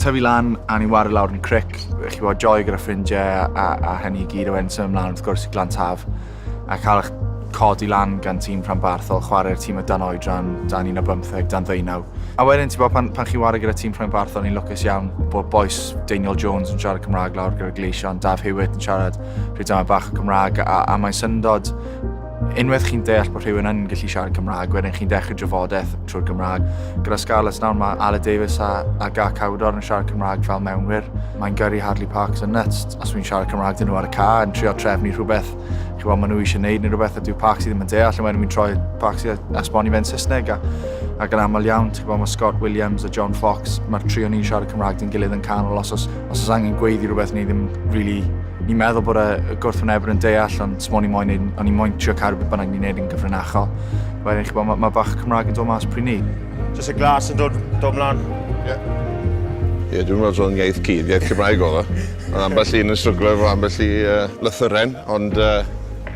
tyfu lan a ni'n wario lawr yn y cric. Chi bod joy gyda ffrindiau a, a hynny i gyd o enso ymlaen wrth gwrs i glan taf. A cael eich codi lan gan tîm rhanbarthol, chwarae'r tîm o dan oedran, dan un o bymtheg, dan ddeunaw. A wedyn, ti'n bod, pan, pan chi'n wario gyda tîm rhanbarthol, ni'n lwcus iawn bod boes Daniel Jones yn siarad Cymraeg lawr gyda Gleision, Daf Hewitt yn siarad rhyw dama bach o Gymraeg a, a mae'n syndod unwaith chi'n deall bod rhywun yn gallu siarad Cymraeg, wedyn chi'n dechrau drafodaeth trwy'r Gymraeg. Gyda Scarlets nawr mae Ale Davies a, a Gar Cawdor yn siarad Cymraeg fel mewnwyr. Mae'n gyrru Hadley Parks yn nuts. Os wy'n siarad Cymraeg dyn nhw ar y ca yn trio trefnu rhywbeth, chi weld maen nhw eisiau gwneud neu rhywbeth a dyw Parks i ddim yn deall, a wedyn wy'n troi Parks i esbonio fe'n Saesneg. A, ac yn aml iawn, ti'n gwybod, mae Scott Williams a John Fox, mae'r tri o'n i'n siarad Cymraeg dyn gilydd yn canol os oes Os oes angen gweiddi rhywbeth ni ddim really... Ni'n meddwl bod y gwrthwynebwyr yn deall ond smo ni moyn neud, o'n i moyn trio cadw beth bynnag ni'n neud yn gyfrinachol. Wedyn chi'n gwybod, mae ma bach Cymraeg yn dod mas pryd ni. Just y glas yn dod, dod mlaen. Ie. Ie, dwi'n meddwl o'n iaith cyd, iaith Cymraeg oedd o. Ond ambell un yn stryglo efo ambell i uh, lythyren, ond uh,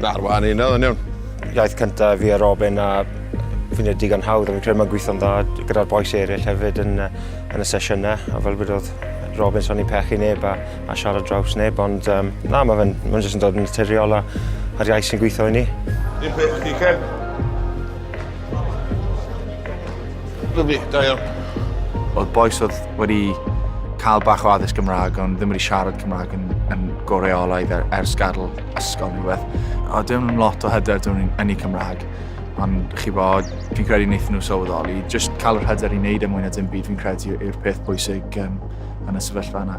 na'r wahan un oedd yn iawn. Iaith cyntaf fi a Robin a fi'n ei digon hawdd, ond fi'n credu mae'n gweithio'n dda gyda'r boes eraill hefyd yn, yn y sesiynau, a fel bod oedd Robin so ni'n pechu neb a a siarad draws neb ond yym na ma' fe'n ma'n jyst yn dod yn naturiol a a'r iaith sy'n gwitho i ni. Dim peth chdi Kev. Lyfli, da iawn. O'dd bois o'dd wedi ca'l bach o addysg Gymrâg ond ddim wedi siarad Cymrâg yn yn go reolaidd e- ers gadl ysgol ne' rwbeth. O' dim lot o hyder 'da ni yn y Cymrâg. Ond chi bod, fi'n credu wnaethon nhw sylweddoli. Just cael yr hyder i wneud e mwy na dim byd fi'n credu yw'r peth bwysig um, yn y sefyllfa yna.